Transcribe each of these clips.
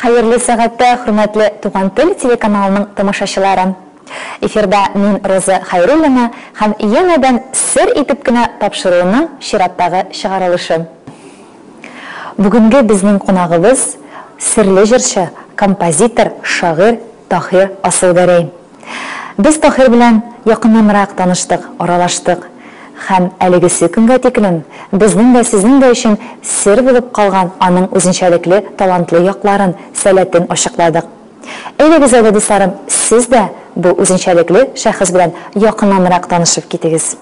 Хәерле сәгатьтә, хөрмәтле Туган тел телеканалының тамашачылары! Эфирда мин Роза Хәйруллина һәм янәдән сер итеп кенә тапшыруның чираттагы чыгарылышы. Бүгенге безнең кунагыбыз, серле җырчы, композитор, шагыйрь Таһир Асылгәрәй. Без Таһир белән якыннанрак таныштык, аралаштык. Һәм әлегесе көнгә тиклем безнең дә, сезнең дә өчен сер булып калган аның үзенчәлекле талантлы якларын, сәләтен ачыкладык. Әйдәгез әле, дусларым, сез дә бу үзенчәлекле шәхес белән якыннанрак танышып китегез.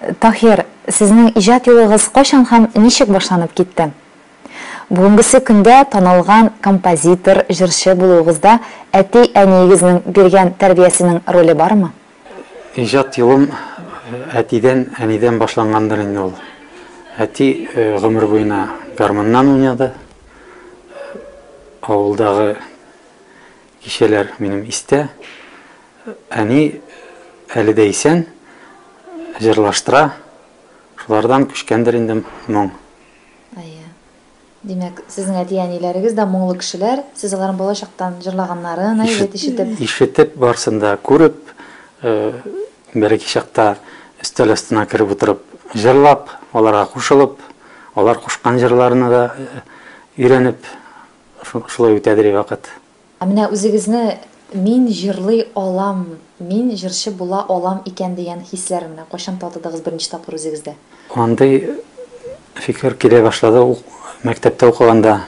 Таһир, сезнең иҗат юлыгыз кайчан һәм ничек башланып китте? Бүгенгесе көндә танылган композитор, җырчы булуыгызда әти-әниегезнең биргән тәрбиясенең роле бармы? Иҗат юлым әтидән, әнидән башлангандыр инде ул. Әти гомер буена гармуннан уйнады. Авылдагы Кичәләр минем истә. Әни әле дә исән, җырлаштыра. Шулардан күчкәндер инде моң. Әйе. Димәк, сезнең әти-әниләрегез дә моңлы кешеләр, сез аларның бала чактан җырлаганнарын, әйбәт ишетеп. Ишетеп, барысын да күреп, береки чакта өстәл астына кереп утырып җырлап, аларга кушылып, алар кушкан җырларны да өйрәнеп. Шулай үтә дери вакыт. Ә менә үзегезне мин җырлый алам, мин җырчы була алам икән дигән хисләр менә кайчан татыдыгыз беренче тапкыр үзегездә? Андый фикер килә башлады мәктәптә укыганда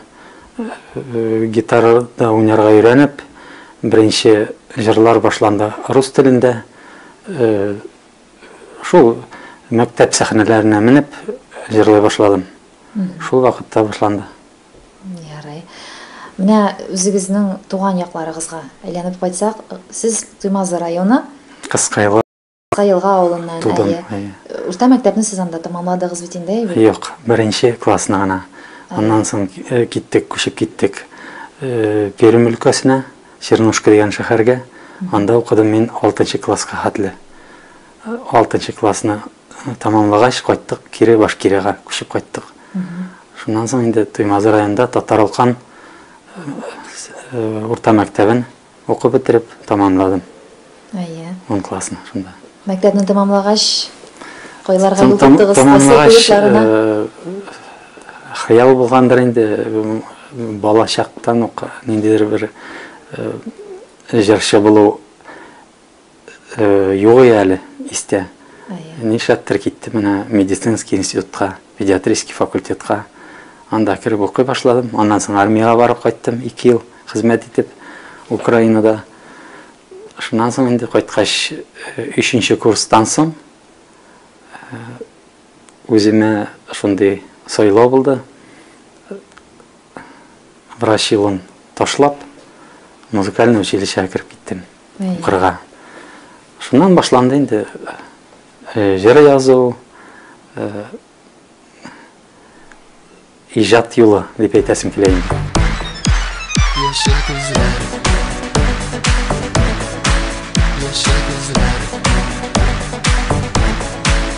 гитарада уйнарга өйрәнеп, беренче җырлар башланды рус телендә. Шул мәктәп сәхнәләренә менеп җырлый башладым. Шул вакытта башланды. Ярый. Менә үзегезнең туган якларыгызга әйләнеп кайтсак, сез Туймазы районы. Кыскаелга. Кыскаелга авылыннан. Тудым, әйе. Урта мәктәпне сез анда тәмамладыгыз бит инде, әйе бит? Юк, беренче классны гына. Аннан соң киттек, күчеп киттек Пермь өлкәсенә, Чернушка дигән шәһәргә. Анда укыдым мин алтынчы класска хәтле. Алтынчы классны Тамамлагач, кайттык, кире Башкирега күчеп кайттык. Шуннан соң инде Туймазы районында Татаралкан урта мәктәбен укып бетереп тамамладым. Әйе. 10 классны шунда. Мәктәпне тамамлагач, кайларга юл тоттыгыз? Тамамлагач, хыял булгандыр инде, балачактан ук ниндидер бер җырчы булу Югый әле истә. Нишләптер китте менә медицинский институтка, педиатрический факультетка. Анда кереп укый башладым. Аннан соң армиягә барып кайттым, ике ел хезмәт итеп Украинада. Шуннан соң инде кайткач, өченче курстан соң үземә шундый сайлау булды. Врач юлын ташлап, музыкальный училищега кереп киттем. укырга. Шуннан башланды инде җыр язу, иҗат юлы дип әйтәсем килә инде. Яшел күзләр, яшел күзләр.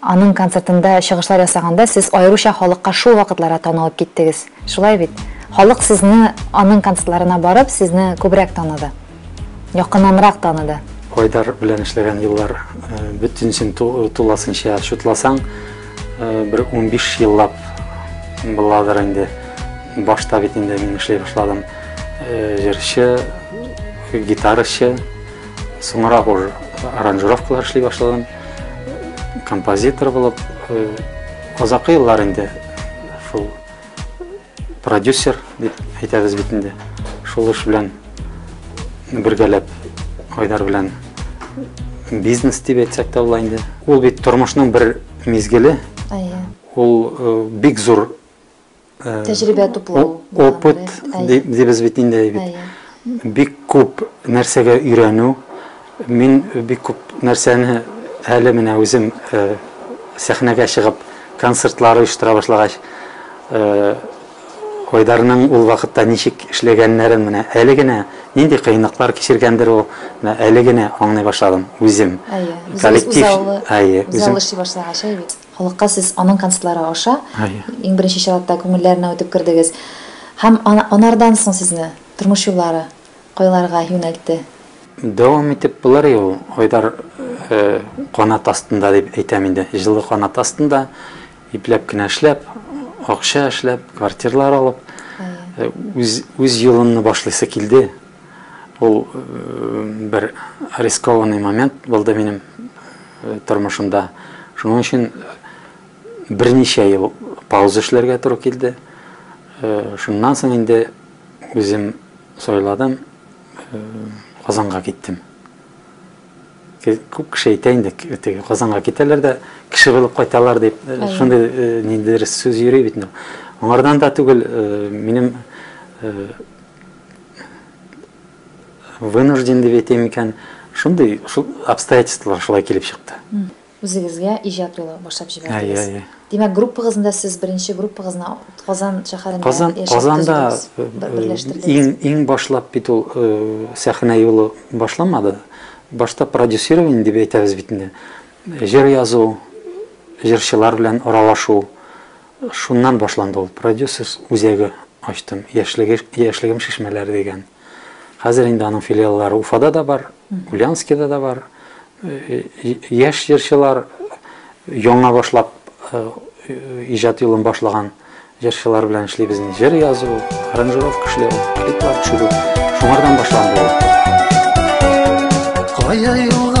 Аның концертында чыгышлар ясаганда сез аеруча халыкка шул вакытларда танылып киттегез. Шулай бит? Халык сезне аның концертларына барып, сезне күбрәк таныды. Якыннанрак таныды. Айдар белән эшләгән еллар бөтенесен тулысынча чутласаң, бер унбиш еллап буладыр инде. Башта бит инде мин эшли башладым. Җырчы, гитарачы, соңрак уж аранжировкалар эшли башладым. композитор булып озакы э, еллар инде шул продюсер дип әйтәбез бит инде шул эш белән бергәләп айдар белән бизнес дип әйтсәк тә була инде ул бит тормышның бер мизгеле ул э, бик зур Тәҗрибә туплау. Опыт дибез бит инде бит. Бик күп нәрсәгә өйрәнү. Мин бик күп нәрсәне әле менә үзем сәхнәгә чыгып концертлар оештыра башлагач, Айдарның ул вакытта ничек эшләгәннәрен менә әле генә нинди кыенлыклар кичергәндер ул, менә әле генә аңлый башладым үзем. Коллектив, әйе, үзем. Үзем эшли башлагач, әйе бит. Халыкка сез аның концертлары аша иң беренче чиратта күңелләренә үтеп кердегез. Һәм анардан соң сезне тормыш юллары кайларга юнәлтте? Дәвам итеп болары ул, Айдар канат астында дип әйтәм инде, җылы канат астында, ипләп кенә эшләп, акча эшләп, квартирлар алып, үз юлымны башлыйсы килде. Ул бер рискованный момент булды минем тормышымда. Шуның өчен берничә ел пауза эшләргә туры килде. Шуннан соң инде үзем сайладым, Казанга киттем. Күп кеше әйтә инде, теге Казанга китәләр дә кеше булып кайталар дип, шундый ниндидер сүз йөри бит. Аңардан да түгел, минем вынужден дип әйтә микән, шундый шул обстоятельстволар шулай килеп чыкты. Үзегезгә иҗат юлы башлап җибәрдегез. Әйе, әйе. Димәк, группагызында сез беренче группагызны Казан шәһәрендә Казан, Казанда иң иң башлап бит ул сәхнә юлы башламады. Башта продюсирование дип әйтәбез бит инде. Җыр язу, җырчылар белән аралашу, Шуннан башланды ул. Продюсерс үзәге ачтым. Яшьлеге, яшьлегем шешмәләре дигән. Хәзер инде аның филиаллары Уфада да бар, Ульяновскида да бар. Э, э, яшь җырчылар яңа башлап э, иҗат юлын башлаган җырчылар белән эшлибез. Җыр язу, аранжировка эшләү, клиплар төшерү. Шуңардан башланды ул. Кая юлга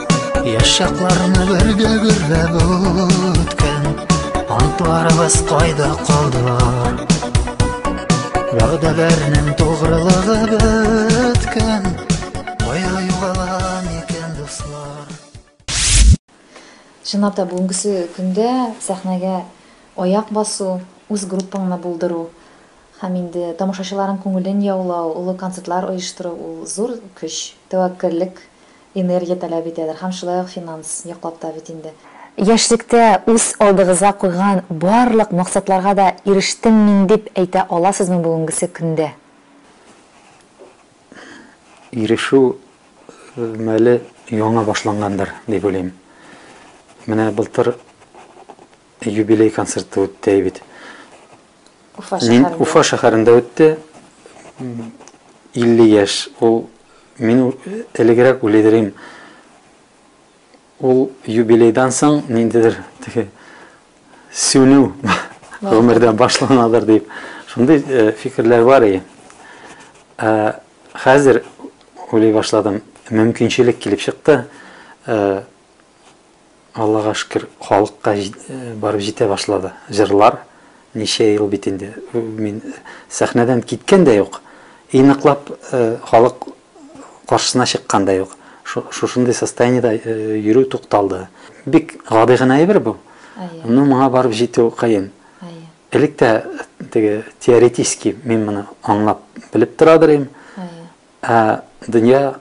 Яш чакларны бергә гөрләп үткән Антларыбыз кайда калдылар Вәгъдәләрнең тугрылыгы беткән Кая югалган икән дуслар Чынлап та бүгенгесе көндә сәхнәгә аяк басу, үз группаңны булдыру һәм инде тамашачыларның күңелен яулау, олы концертлар оештыру ул зур көч, тәвәккәллек Энергия таләп итәдер һәм шулай ук финанс яклап та бит инде. Яшьлектә үз алдыгызга куйган барлык максатларга да ирештем мин дип әйтә аласызмы бүгенгесе көндә? Ирешү мәле яңа башлангандыр дип уйлыйм. Менә былтыр Юбилей концерты үтте әй бит. Уфа шәһәрендә. Уфа шәһәрендә үтте. 50 яшь. Ул мин элегрәк үледерим. Ул юбилейдан соң ниндидер теге сүнү гомердән башланадыр дип. Шундый э, фикерләр бар и. Э, хәзер уйлый башладым. Мөмкинчелек килеп чыкты. Э, Аллага шөкер, халыкка барып җитә башлады җырлар. Ничә ел бит инде, мин сәхнәдән киткән дә юк, и ныклап халык каршысына чыккан да юк. Шушындый состояниедә йөрү тукталды. Бик гади генә әйбер бу, но моңа барып җитү кыен. Элек тә теге теоретически мин моны аңлап, белеп торадыр идем, ә дөнья.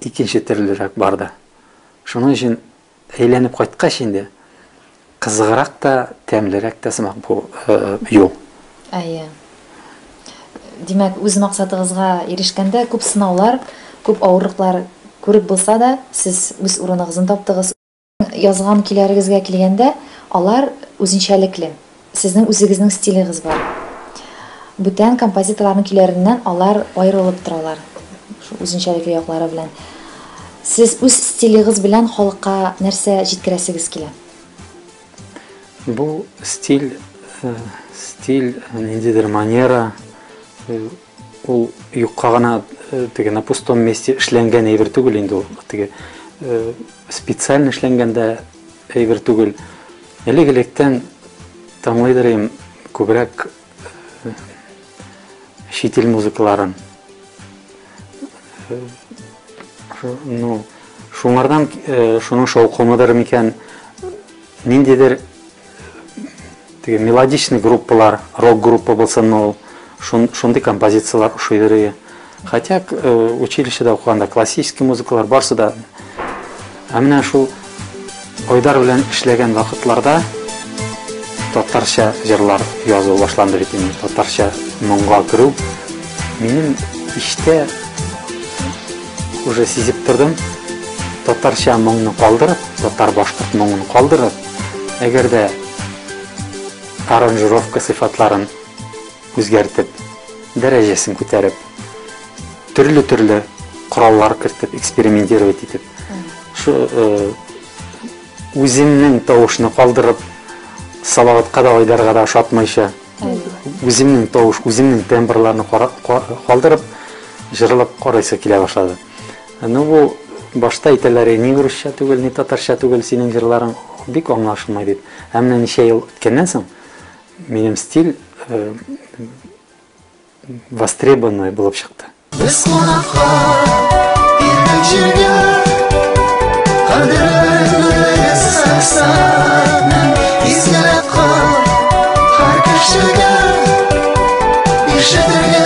икенче төрлерәк барды. Шуның өчен әйләнеп кайткач инде кызыграк та, тәмлерәк тә сымак бу юл. Әйе. Димәк, үз максатыгызга ирешкәндә күп сынаулар, күп авырлыклар күреп булса да, сез үз урыныгызны таптыгыз. Язган көйләрегезгә килгәндә, алар үзенчәлекле. Сезнең үзегезнең стилегез бар. Бүтән композиторларның көйләреннән алар аерылып торалар, шул үзенчәлекле яклары белән. Сез үз стилегыз белән халыкка нәрсә җиткерәсегез килә? Бу стиль, стиль, ниндидер манера. Ул юкка гына э, теге на пустом месте эшләнгән әйбер түгел инде ул. Теге э, специально эшләнгәндә әйбер түгел. Элек электән тыңлыйдыр идем күбрәк э, чит ил музыкаларын. Ну, шуңардан шуның шаукымыдыр микән ниндидер Теге мелодичный группалар, рок группа булсын ул, шун, шундый композицияләр ошый йөри. Хотя э, училищеда укыганда классический музыкалар барсы да. Ә менә шул Айдар белән эшләгән вакытларда татарча җырлар язу башланды бит инде. Татарча моңга керү минем иштә уже сизеп тордым татарча моңны калдырып татар башкорт моңын калдырып Әгәр дә аранжировка сыйфатларын үзгәртеп, дәрәҗәсен күтәреп, төрле-төрле кораллар кертеп, экспериментировать итеп, шу э, үземнең тавышны калдырып, салаватка да айдарга да ошатмыйча, үземнең тавыш, үземнең тембрларны калдырып, җырлап карыйсы килә башлады. Ну бу башта әйтәләр ни урысча түгел, ни татарча түгел синең җырларың бик аңлашылмай дип. Ә менә ничә ел үткәннән соң минем стиль э, востребованный булып чыкты. Без кунакка иртән җиргә кадерле саксатны искәрәп кал һәр кешегә ишетергә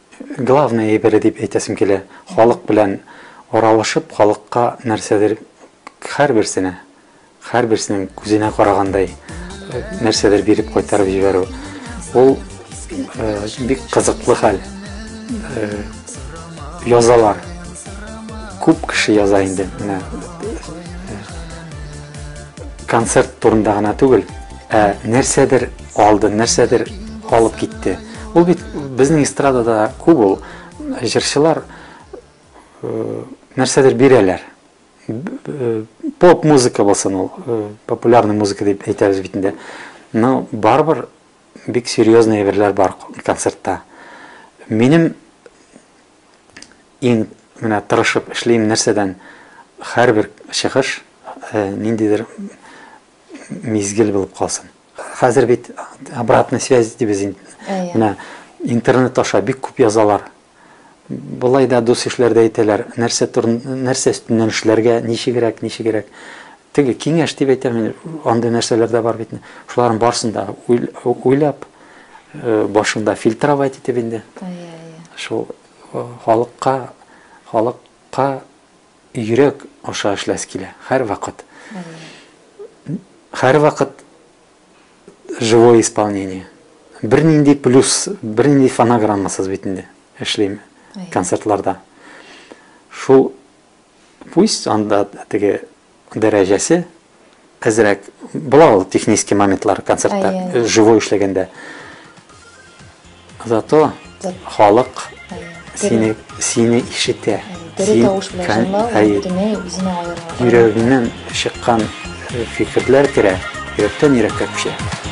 Главный әйбере дип әйтәсем килә, халык белән аралашып, халыкка нәрсәдер, һәрберсенә, һәрберсенең күзенә карагандай нәрсәдер биреп кайтарып җибәрү. Ул бик кызыклы хәл. Язалар. Күп кеше яза инде. Менә концерт турында гына түгел, ә нәрсәдер алды, нәрсәдер алып китте. Ул бит безнең эстрадада күп ул җырчылар э, нәрсәдер бирәләр. Э, поп музыка булсын ул, э, популярный музыка дип әйтәбез бит инде. Но барыбер бик серьезный әйберләр бар концертта. Минем иң менә тырышып эшлим нәрсәдән һәрбер чыгыш ниндидер мизгел булып калсын. Хәзер бит обратная связь дибез инде. Менә интернет аша бик күп язалар. Болай да дус ишләр дә әйтәләр, нәрсә турын, нәрсә өстеннән эшләргә, ничегрәк, ничегрәк. Теге киңәш дип әйтәм, мин, андый нәрсәләр дә бар бит. Шуларның барсын да уйлап, э, башында фильтровать итеп инде. Шул э, халыкка, халыкка йөрәк аша эшләс килә, һәрвакыт. Һәрвакыт живое исполнение. Бернинди плюс, бернинди фонограммасыз бит инде эшлим концертларда. Шул пусть анда теге дәрәҗәсе әзрәк була ул технический моментлар концертта живой эшләгәндә зато халык сине сине ишетә тере тавыш белән җырлау бөтенләй үзенә аерыла йөрәгеңнән чыккан фикерләр керә йөрәктән йөрәккә күчә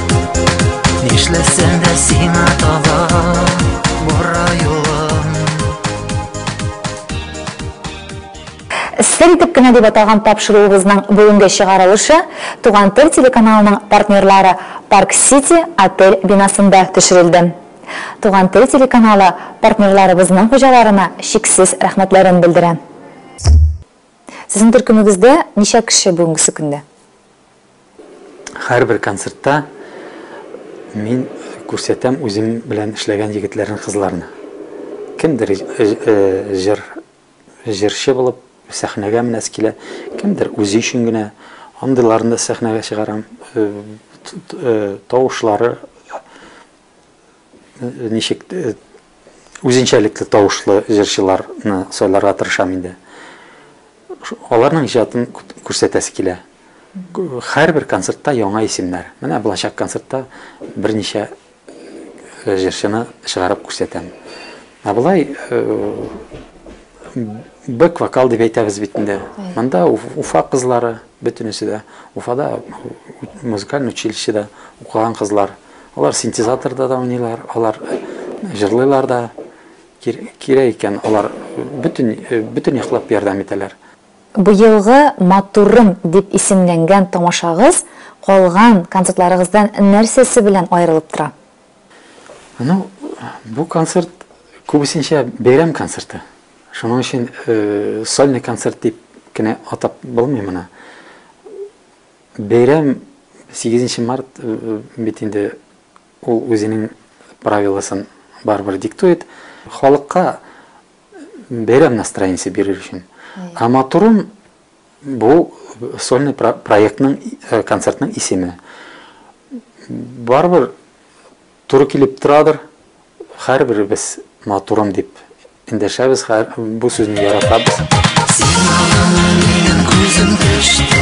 Нишләсәм дә сиңа таба бара юлым Сер итеп кенә дип аталган тапшыруыбызның бүгенге чыгарылышы Туган тел телеканалының партнерлары Парк Сити отель бинасында төшерелде. Туган тел телеканалы партнерларыбызның хуҗаларына чиксез рәхмәтләрен белдерә. Сезнең төркемегездә ничә кеше бүгенгесе көндә? Һәрбер концертта мин күрсәтәм үзем белән эшләгән егетләрне, кызларны. Кемдер җыр, җырчы булып сәхнәгә менәсе килә, кемдер үзе өчен генә. Андыйларны да сәхнәгә чыгарам. Тавышлары Ничек үзенчәлекле тавышлы җырчыларны сайларга тырышам инде. Аларның иҗатын күрсәтәсе килә. Һәрбер концертта яңа исемнәр. Менә булачак концертта берничә э, җырчыны чыгарып күрсәтәм. Ә болай э, бэк-вокал дип әйтәбез бит инде. Монда Уфа кызлары, Бөтенесе дә Уфада музыкаль училищеда укыган кызлар. Алар синтезаторда да уйныйлар, алар җырлыйлар да. Кирәк икән, алар бөтен, бөтен яклап ярдәм итәләр. Быелгы Матурым дип исемләнгән тамашагыз калган концертларыгыздан нәрсәсе белән аерылып тора? Ну, бу концерт күбесенчә бәйрәм концерты. Шуның өчен э, сольный концерт дип кенә атап булмый моны. Бәйрәм 8 март э, бит инде ул үзенең правиласын барыбер диктует. Халыкка бәйрәм настроениясе бирер өчен. Ә матурым Бу сольный проектның, э, концертның исеме. Барыбер туры килеп торадыр. Һәрберебез матурым дип эндәшәбез, һәр бу сүзне яратабыз. Күзем төште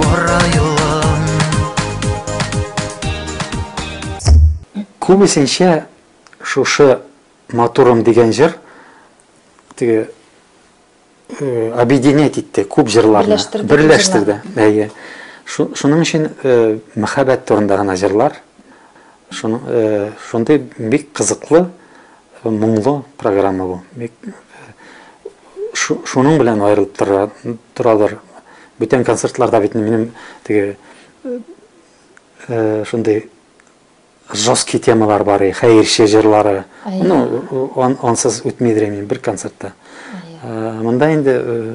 Бара юлым Күбесенчә шушы матурым дигән җыр теге э, объединять итте күп җырларны. Берләштерде. Берләштерде. Әйе. Шуның өчен э, мәхәббәт турында гына җырлар. Э, шундый бик кызыклы Моңлы программа бу. Бик шуның белән аерылып тора, торадыр. Бүтән концертларда бит минем теге э, шундый жесткий темалар бар, хәерче җырлары. Ну, ансыз үтмидер мин бер концертта. Монда инде э,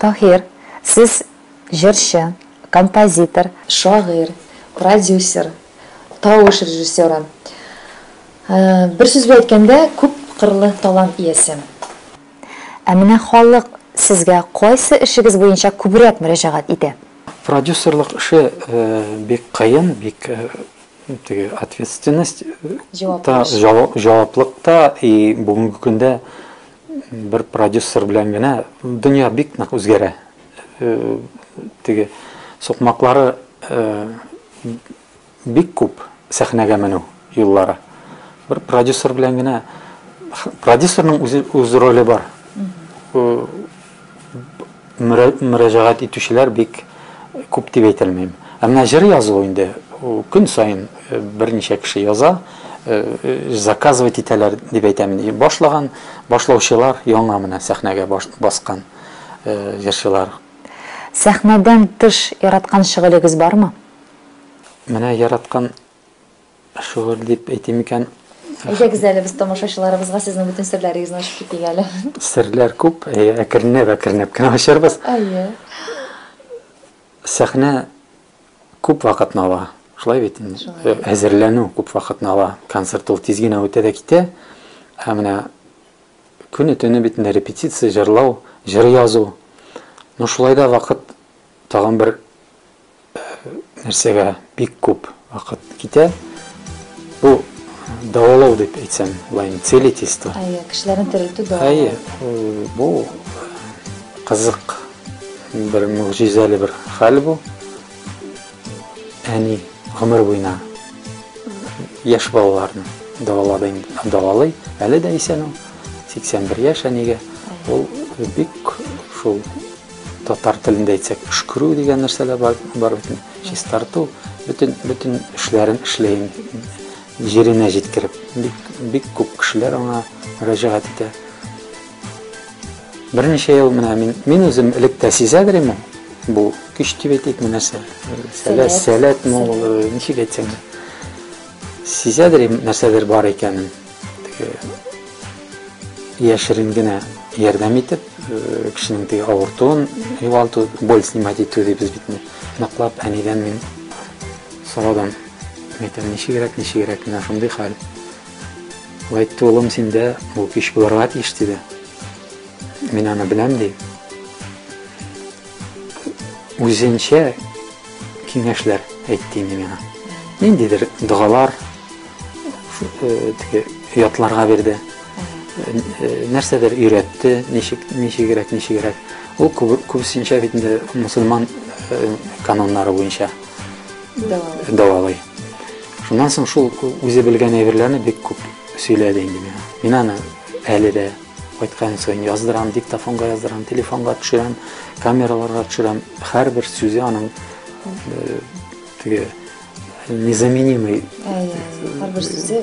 Таһир, сез җырчы, композитор, шагыйрь, продюсер, тавыш режиссеры. Э, бер сүз белән әйткәндә, күп кырлы талант иясе. Ә менә халык сезгә кайсы эшегез буенча күбрәк мөрәҗәгать итә? Продюсерлык эше э, бик кыен, бик э, теге ответственность, җаваплылык та и бүгенге көндә Бер продюсер белән генә дөнья бик нык үзгәрә. Теге сукмаклары бик күп сәхнәгә менү юллары. Бер продюсер белән генә продюсерның үз роле бар. мөрәҗәгать итүчеләр бик күп дип әйтәлмим. Ә менә җыр язу инде көн саен э, берничә кеше яза, э, э, заказывать итәләр дип әйтәм. Башлаган башлаучылар яңа менә сәхнәгә баскан җырчылар. Сәхнәдән тыш яраткан шөгылегез бармы? Менә яраткан Шөгыль дип әйтим икән. Әйдәгез әле без тамашачыларыбызга сезнең бөтен серләрегезне ачып китик әле. Серләр күп, әкренләп, әкренләп кенә ачарбыз. Әйе. Сәхнә күп вакытны ала. Шулай бит инде. Әзерләнү күп вакытны ала. Концерт ул тиз генә үтә дә китә. Ә менә көне төне бит инде репетиция, җырлау, җыр язу. Ну шулай да вакыт тагын бер нәрсәгә бик күп вакыт китә. Бу дәвалау дип әйтсәм, былай целительство. Әйе, кешеләрне терелтү дәвалау. Әйе, бу кызык бер мөгъҗизәле бер хәл бу. Әни гомер буена яшь балаларны дәвалады, дәвалый. Әле дә исән ул. 81 яшь әнигә. Ул бик шул Татар телендә әйтсәк, өшкерү дигән нәрсә дә бар, бар бит. Чистарту, бөтен бөтен эшләрен эшләйм җиренә җиткереп. Бик, бик күп кешеләр аңа мөрәҗәгать итә. Берничә ел менә мин, мин үзем элек тә сизә берем бу көч дип әйтик нәрсә. Сәләт, сәләт мул, ничек әйтсәң. Сизә нәрсәдер бар икәнен. яшерен генә ярдәм итеп, э, кешенең теге авыртуын югалту, боль снимать итү дибез бит ме. Ныклап әнидән мин сорадым. Мәйтәм, ничегрәк, ничегрәк, менә шундый хәл. Лайт улым синдә бу кич булырга тиеш диде. Мин аны беләм ди. Үзенчә Киңәшләр әйтте инде миңа. Ниндидер догалар э, теге ятларга бирде. Э, э, нәрсәдер өйрәтте, ничек ничегрәк ничегрәк. Ул күбесенчә бит инде мусульман кануннары буенча дәвалый. Шуннан соң шул үзе белгән әйберләрне бик күп сөйләде инде миңа. Мин аны әле дә Кайткан саен яздырам, диктофонга яздырам, телефонга төшерәм, камераларга төшерәм. Һәрбер сүзе аның э, теге незаменимый. Һәрбер сүзе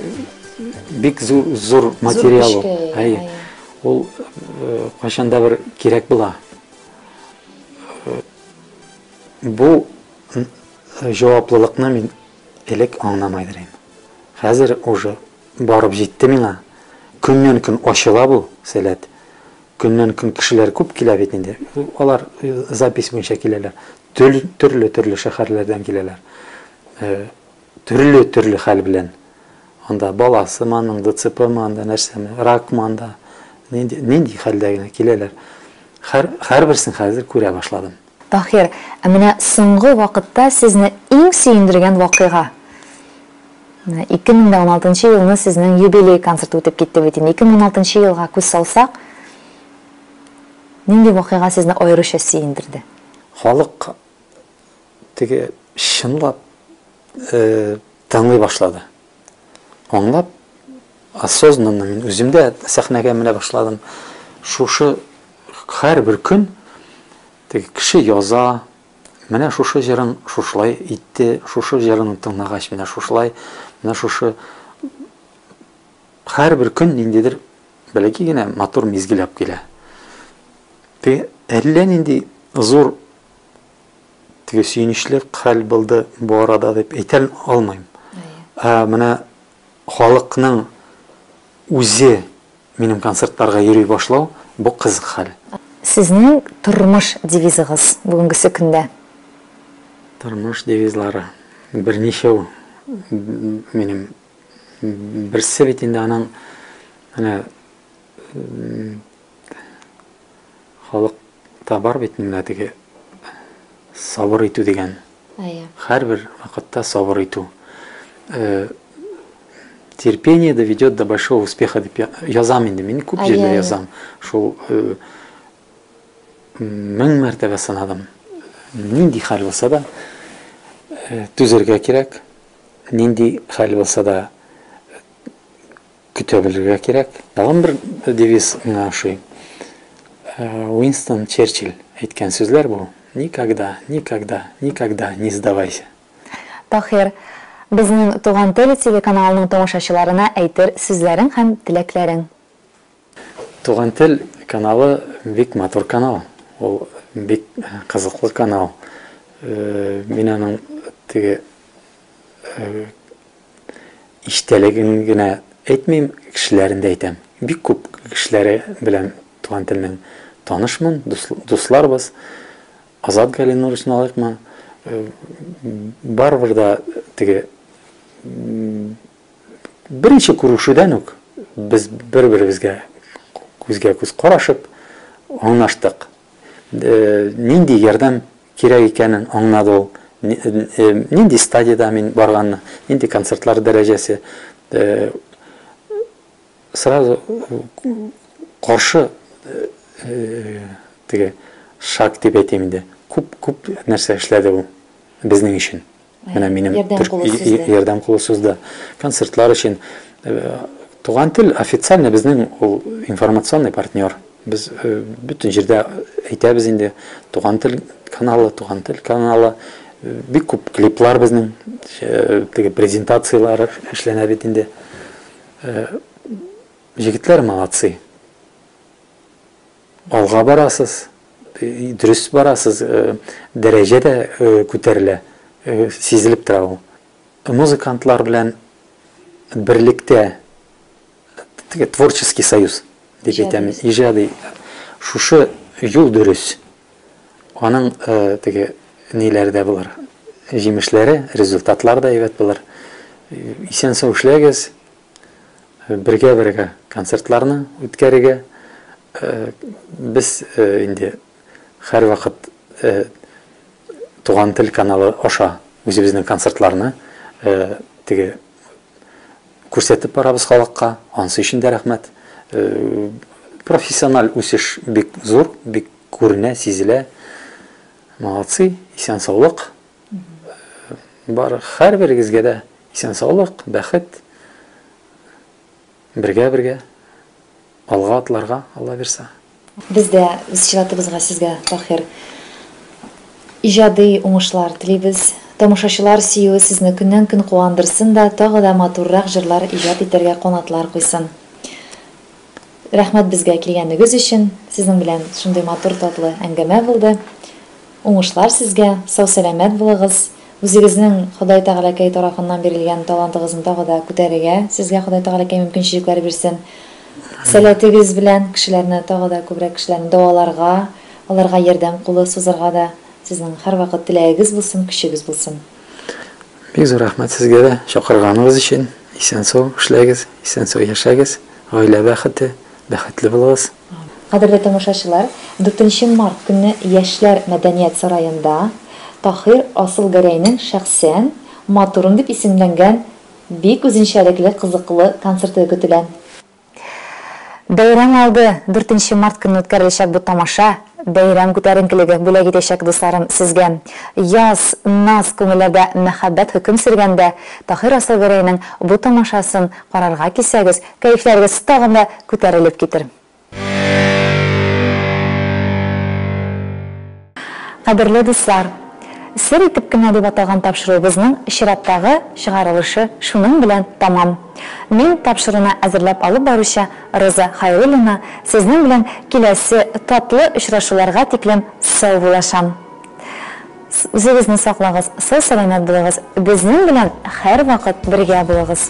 бик зур зур материал. Әй. Ул э, кайчанда бер кирәк була. Э, бу җаваплылыкны мин элек аңламадым. Хәзер уже Барып җитте миңа. Көннән-көн ачыла бу, Сәләт. Көннән-көн кешеләр күп килә бит инде. Алар запись буенча киләләр. Төрле-төрле шәһәрләрдән киләләр. Төрле-төрле хәл белән. Анда баласымы аның, ДЦПмы анда, нәрсәме, ракмы анда. Нинди хәлдә генә киләләр. Һәрберсен хәзер күрә башладым. Таһир, ә менә соңгы вакытта сезне иң сөендергән вакыйга? Менә 2016 нчы елны сезнең юбилей концерты үтеп китте бит инде. 2016 нчы елга күз салсак, нинди вакыйга сезне аеруча сөендерде? Халык теге чынлап Тыңлый башлады. Аңлап, осознанно мин үзем дә сәхнәгә менә башладым. Шушы һәрбер көн теге кеше яза, менә шушы җырын шушылай итте, шушы җырын тыңлагач менә шушылай, менә шушы һәрбер көн ниндидер бәләки генә матур мизгел алып килә. Теге әллә нинди зур теге сөенечле хәл булды бу арада дип әйтә алмыйм. Ә менә халыкның үзе минем концертларга йөри башлау, бу кызык хәл. Сезнең тормыш девизыгыз бүгенгесе көндә? Тормыш девизлары берничәү минем. Берсе бит инде аның менә Халыкта бар бит менә теге сабыр итү дигән. Әйе. Һәрбер вакытта сабыр итү. Э, терпение доведет до большого успеха дип язам инде. Мин күп җирдә язам. Шул э, мең мәртәбә сынадым. Нинди хәл булса да э, түзергә кирәк. Нинди хәл булса да Көтә белергә кирәк. Тагын бер девиз миңа ошый. Э, Уинстон Черчилль әйткән сүзләр бу. Никогда, никогда, никогда не сдавайся. Таһир, безнең Туган тел телеканалының тамашачыларына әйтер сүзләрең һәм теләкләрең. Туган тел каналы бик матур канал. Ул бик кызыклы канал. Э, мин аның теге э, Иштәлеген генә әйтмим, кешеләрен дә әйтәм. Бик күп кешеләре белән туган телнең танышмын, дусларбыз. Азат Галинур өчен алыйкмы, барыбер да теге беренче күрешүдән үк без бер-беребезгә күзгә-күз карашып аңлаштык. Нинди ярдәм кирәк икәнен аңнады ул. Нинди стадиядә мин барганны, нинди концертлар дәрәҗәсе. Сразу каршы теге шаг дип әйтим инде. Күп-күп нәрсә эшләде ул безнең өчен. Менә минем ярдәм кулы сузды. Концертлар өчен Туган тел официально безнең ул информационный партнер. Без бөтен җирдә әйтәбез инде. Туган тел каналы, туган тел каналы. Бик күп клиплар безнең теге презентацияләр эшләнә бит инде. Җегетләр молодцы. Алга барасыз, дөрес барасыз, дәрәҗә дә күтәрелә, сизелеп тора ул. Музыкантлар белән берлектә, теге творческий союз дип әйтәм, иҗади, шушы юл дөрес. Аның теге ниләре дә булыр, җимешләре, результатлары да әйбәт булыр. Исән-сау эшләгез! Бергә-бергә концертларны үткәрергә. Без инде һәрвакыт Туган тел каналы аша үзебезнең концертларны теге күрсәтеп барабыз халыкка, ансы өчен дә рәхмәт. Профессиональ үсеш бик зур, бик күренә, сизелә. Молодцы, исән-саулык, Бар һәрберегезгә дә исән-саулык, бәхет, бергә-бергә алга атларга, Алла бирса. Без дә үз чиратыбызга сезгә, Таһир, иҗади уңышлар телибез. Тамашачылар сөюе сезне көннән-көн куандырсын да, тагы да матуррак җырлар иҗат итәргә канатлар куйсын. Рәхмәт безгә килгәнегез өчен, сезнең белән шундый матур татлы әңгәмә булды. Уңышлар сезгә, сау сәламәт булыгыз, үзегезнең Ходай Тәгаләкәй тарафыннан бирелгән талантыгызны тагы да күтәрергә сезгә Ходай Тәгаләкәй мөмкинчелекләр бирсен. Сәләтегез белән кешеләрне тагы да күбрәк кешеләрне дәваларга, аларга ярдәм кулы сузарга да сезнең һәрвакыт теләгегез булсын, көчегез булсын. Бик зур рәхмәт сезгә дә чакырганыгыз өчен. Исән-сау эшләгез, исән-сау яшәгез. Гаилә бәхете, бәхетле булыгыз. Кадерле тамашачылар, дүртенче март көнне Яшьләр мәдәният сараенда Таһир Асылгәрәйнең шәхсән Матурым дип исемләнгән бик үзенчәлекле кызыклы концерты көтелә. Бәйрәм алды, дүртенче март көнне үткәреләчәк бу тамаша, бәйрәм күтәренкелеге бүләк итәчәк, дусларым, сезгә. Яз, наз, күңелләрдә мәхәббәт хөкем сөргәндә, Таһир Асылгәрәйнең бу тамашасын карарга килсәгез, кәефләрегез тагын да күтәрелеп китер. Кадерле дуслар! Сер итеп кенә дип аталган тапшыруыбызның чираттагы чыгарылышы шуның белән тәмам. Мин, тапшыруны әзерләп алып баручы Роза Хәйруллина, сезнең белән киләсе татлы очрашуларга тиклем саубуллашам. С Үзегезне саклагыз, сау-сәламәт булыгыз, безнең белән һәрвакыт бергә булыгыз!